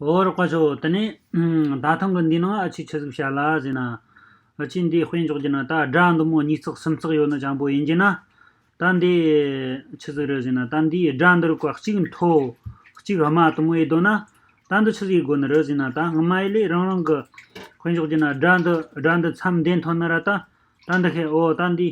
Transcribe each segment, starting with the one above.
འོ་རོགས་པ་ཚོ་དེ་ནས་ད་ཐེངས་ཀྱི་འདིའི་ནང་ཨ་ཕྱིས་ཆི་ཟིག་བྱ་ལ་ཟེར་ན། ཨ་ཕྱིས་འདིའི་དཔེ་འཇོག་རྒྱུ་ན་ད་དགྲ་འདི་མོ་གཉིས་བརྩེགས་གསུམ་བརྩེགས་ཡོད་ན་ཅང་པོ་ཡིན་གྱི་ན། ད་འདི་ཆི་ཟིག་རེད་ཟེར་ན་ད་འདིའི་དགྲ་འདིར་བཀའ་གཅིག་མཐོ། གཅིག་དམའ་དུ་མོ་ཡོད་དོ་ན། ད་འདི་ཆི་ཟིག་གི་སྒོ་ནས་རེད་ཟེར་ན་ད་སྔ་མ་ཡིན་ལས་རང་རང་གི་དཔེ་འཇོག་རྒྱུ་ན་དགྲ་འདི་དགྲ་འདི་མཚམས་ལྡན་ཐོན་ན་ར་ད། ད་འདི་ཤེས་འོ་ད་འདིའི།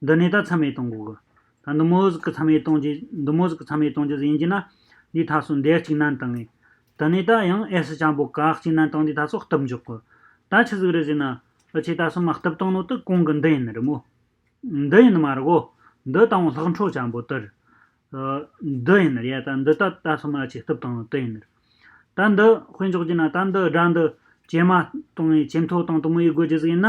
འདི་ནས་ད་ཚ་མེད་གཏོང་དགོས། ད་འདི་མོ་ཟིག་གི་ཚ་མེད་གཏོང་རྒྱུ་འདི་མོ་ཟིག་གི་ཚ་མེད་གཏོང་རྒྱུ་ཟིག་ཡིན་གྱི་ན། འདིའི་ཐག་སོ་འདེགས་གཅིག་ནན་གཏང་ངེས། དེ་ནས་ད་ཡང་ཨེ་སི་ཅང་པོ་གག་གཅིག་ནན་གཏང་འདིའི་ཐག་སོ་གཏུབ་འཇོག་གོ། ད་ཆི་ཟིག་རེད་ཟེར་ན། ཨི་ཆེ་ད་སོ་མ་གཏུབ་གཏང་ནོ་དི་གོང་གི་འདི་ཡིན་རི་མོ། འདི་ཡིན་མ་རི་བོ། འདི་ད་འོང་ལྷག་འཕྲོ་ཅང་པོ་དིར། འདི་ཡིན་རི་ཡ་ད་འདི་ད་ད་སོ་མ་ཨི་ཆེ་གཏུབ་གཏང་ནོ་དི་ཡིན་རི། ད་འདི་དཔེ་འཇོག་གྱི་ན་ད་འདི་སྒྲ་འདི་ཇེ་དམའ་གཏང་ངེས་ཇེ་མཐོ་གཏང་དི་མོ་ཡིས་དགོས་རྒྱུ་ཟིག་ཡིན་ན།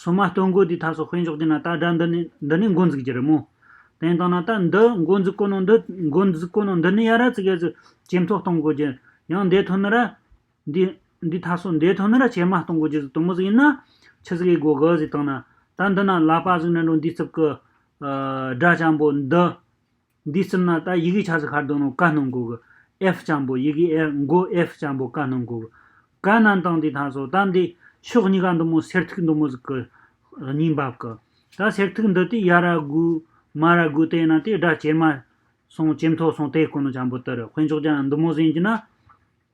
སོ་མ་སྟོན་དགོས་དུས་ཐར་སོགས་དཔེ་འཇོག་རྒྱུ་ན་ད་དགྲ་འདི་ནི་འདི་ནི་མགོ་འཛུགས་ཀྱི་རི་མོ། དེ་ཡིན་དང་ན་ད་འདི་མགོ་འཛུགས་དཀོན་ནོ་འདི་མགོ་འཛུགས་དཀོན་ནོ་འདི་ནི་ཡ་ར་ཙི་གེ་ཙི་ཇེ་མཐོ་གཏོང་དགོས་རྒྱུ་ཡང་འདས་ཐོན་ནི་ར། འདི་འདི་ཐར་སོ་འདས་ཐོན་ནི་ར་ཇེ་དམའ་གཏོང་དགོས་རྒྱུ་ཟིག་དུམ་བུ་ཟིག་ཡིན་ན། ཆུ་ཟིག་གི་སྒོ་ག་ཟིག་དང་ན་ད་འདི་ན་ལག་པ་ཟིག་ན་འགྲོ་འདིའི་རྩིབ་ཀི། སྒྲ་ལྕང་པོ་འདི། འདིའི་གསུམ་ན་ད་ཡི་གེའི་ཆ་ས་ཁར་དོ་ནོ་ཀ་ནོ་འགོ་གི། ཨེའཧྥ་ལྕམ་པོ་ཡི་གེའི་ཨེའཧྥ་མགོ་ཨེའཧྥ་ལྕམ་པོ་ཀ་ནོ་འགོ་གི། ཀ་ནན་ཏང་དེ་ཐང་སོ་དམ་དེ། ཕྱོགས་གཉིས་ཀ་མདུང་མོ་སེར་ཐིག་མདུང་མོ་ཟིག་གི། སྙིང་འབབ་ཀི། ད་སེར་ཐིག་འདི་དེ་ཡ་ར་གུ། མ་ར་གུ་དེ་ན་དེ་སྒྲ་ཇེ་དམའ། སོང་ཇེ་མཐོ་སོང་དེ་ཀོ་ནོ་ལྕམ་པོ་དེར་དཔེ་འཇོག་ཀྱང་མདུང་མོ་ཟིན་གྱི་ན།